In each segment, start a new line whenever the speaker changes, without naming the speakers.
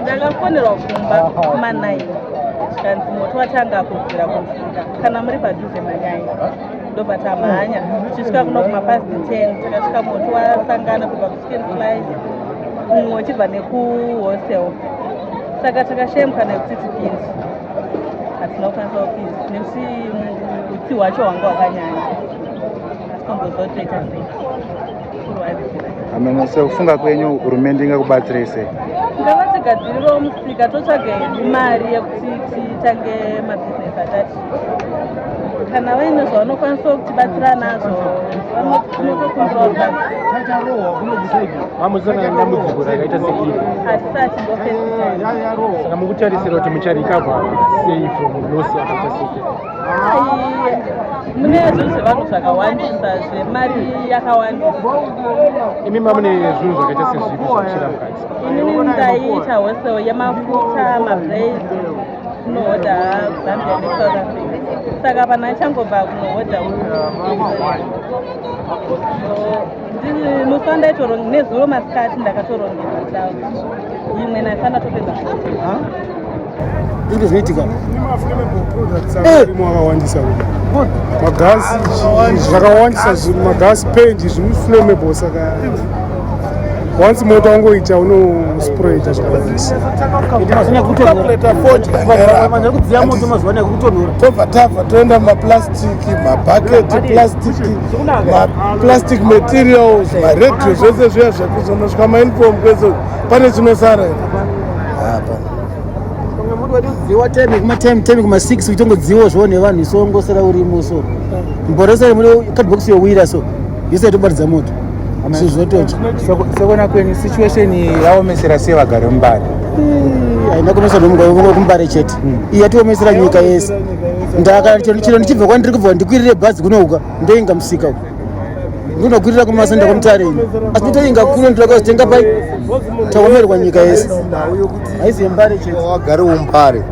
ndakafonerwa kumba kumanaini zvikanzi moto watanga kubvira kumusika kana muri padhuze manyai ndobva tamhanya tichisvika kuno kumapast ten takasvika moto wasangana kubva kuchicken slice mumwe uchibva nekuhostel saka takashemka nekuti tipinzi hatina kukwanisa kupinzi nekuti utsi hwacho hwanga hwakanyanya asi tombozotoita sei ameno
sekufunga kwenyu hurumende ingakubatsirei sei ngavatsigadzirirewo
musika totsvage mari yekuti titange mabhizinesi atati kana vaine zvavanokwanisa kutibatsira nazvo vanotokumbiraamuzanadambudziko
rakaita seiri hatisati
ndofesaka
mukutarisira kuti mucharikavha sei from losi akaita seke
mune zvinhu zvevanhu zvakawandisa zvemari yakawandisa
imi mamune zvinhu zvakaita sezvipi zvakushira mukati inini ndaiita
hosel yemafuta mabrai kunohodha zambia nesouth africa saka vanhu achangobva kunohodha musi wandaitoronga nezuro masikati ndakatorongeza imwe naisa ndatopedza
Zvinhu zvinoitika. Eh!
Makawandisa magasi zvakawandisa magasi pendi zviri flammable saka once moto wangoita unosprayita zvakawandisa tobva tabva toenda mumaplastic mabhaketi plastic maplastic materials maradio zvese zviya zvekuzonosvika mainform kwezo pane chinosara apa pamwe muti watodziwa
temi kuma temi temi kuma six uchitongodziwa zvo nevanhu iso ngosara urimo so mborosere muri cardbox yowira so yese itobaridza moto zvizotocha sekona
kwenyu situation yaomesera sei vagari mumbare haina
kuomesa nomugaivo kumbare chete hmm. iya tiomesera nyika yese ndakachero ndichibva kwandiri kubva ndikwirire bhazi kunouka ndoinga musika uku ndinokwirira kumasenda kwamutarini asi nditainga kuno ndira kwazitenga pai taomerwa nyika yese haizi yembare chete wagare umbare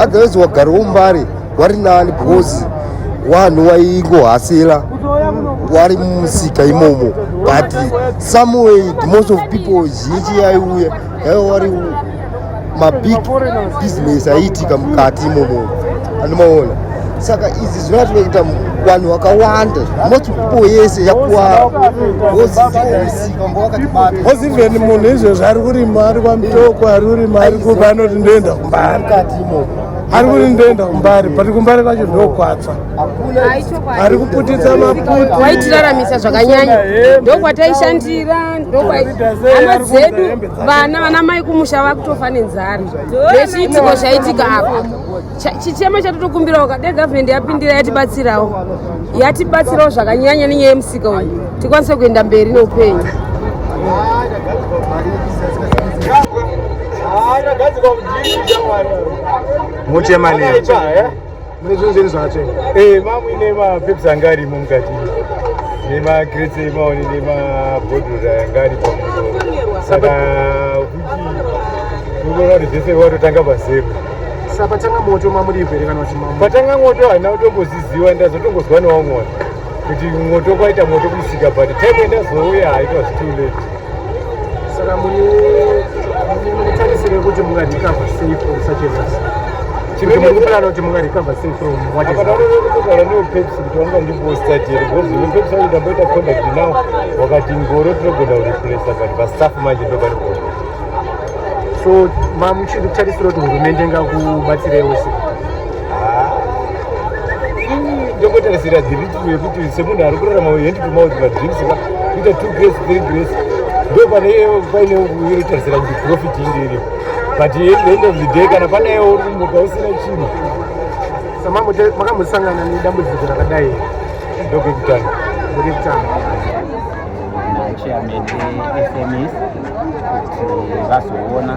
otherwise wagare umbare wari nani because wanhu waingohasira wari mumusika imomo but someway most of people zhinji yaiuya yaiva wari mabig business aiitika mukati imomo andimaona saka izvi zvinatoita vanhu vakawanda most people yese yakuwaozivomusikaozi
even munhu izvezvo ari kurima ari kwamutoko ari kurima ari kupa anoti ndoenda kumbari ari kuti ndoenda kumbari but kumbari kwacho ndokwatsva ari kuputitsa maputi waitiraramisa zvakanyanya
ndokwataishandira hama dzedu vana vana mai kumusha vakutofa nenzara nechiitiko zvaitika apa chichema chatotokumbirawo kade gavhumendi yapindira yatibatsirawo yatibatsirawo zvakanyanya nenyaya yemusika uyu tikwanise kuenda mberi neupenyu
muchemanei
mune zvinhu zvenyu zvakatsvenga ee eh, mamu ine mapeps anga arimo mukati nemacrets emaoni nemabhodhoro anga ari pamusoro saka kuchi unoona kuti zvese watotanga pazero sapatanga
moto mamuripo here kana kuti mamu patanga moto haina
kutomboziziwa ndazotongozwa newaumwana kuti moto kwaita moto kumusika but time endazouya haitwa zitoo late
saka munetarisire kuti mungarikava sei from such a loss chinoendakuplana kuti mungarikava sei from
what is kugara neo pepsi kuti wanga ndiposta chero because ine pepsi vange ndamboita contact now wakati ngoro tinogona kurepresa but pastaff manje ndopari kuona
so mamuchiri kutarisira kuti hurumende ngakubatsirewo sei
ndokotarisira dhiritmu yekuti semunhu ari kurarama hand to mouth madrinks ka kuita two grace three grace ndo pane paine uyotarisira kuti profit inge iri but end of the day kana panayewo uri kumuka usina chinhu makamosangana
nedambudziko rakadai ndokekutanga
ndokekutanga chairman
efms kuti vazoona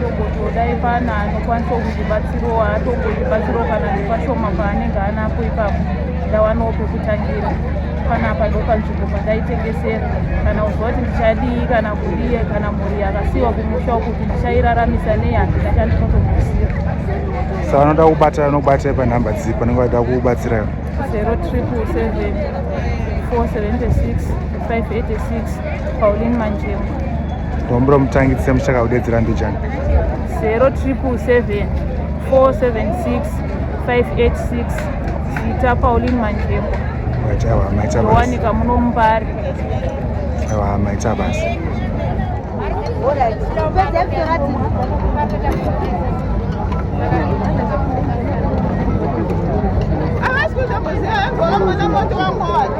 tombotodai pana anokwanisa kundibatsirawo haatongondibatsirawo kana ndipashoma paanenge anapo ipapo ndawanawo pekutangira panapa ndopanzvimbo pandaitengesera kana kuziva kuti ndichadii kana kudii kana mhuri yakasiyiwa kumusha kuti ndichairaramisa nei handina chandinotomusira sa
vanoda kubatira vanokubatira panhamba dzii panenge vaida kubatsira 077 476 586
paulin manjema Dombro
mutangi tse mushaka kudedzera mbijani. 0777 476 586
Zita Pauline Manjembo. Waita wa maita
basi. Wani kamuno mbari.
Wa
maita basi. Amasikuza muzee, ngola mwana mwana mwana.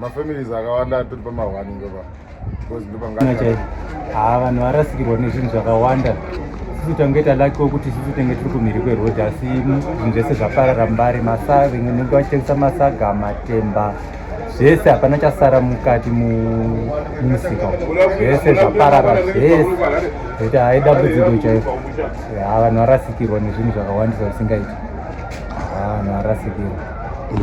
mafamilies akawanda atiri pamahwani ndopa because ndopangachai haa vanhu
varasikirwa nezvinhu zvakawanda sisi tange talaki wokuti sisi tenge tiri kumhiri kwerhodhi asi zvinhu zvese zvaparara mbari masaga vimwe nenge vachitengesa masaga matemba zvese hapana chasara mukati mumusika zvese zvaparara zvese kuti hai dambudziko chaiko haa vanhu varasikirwa nezvinhu zvakawandisa zvisingaiti haa vanhu varasikirwa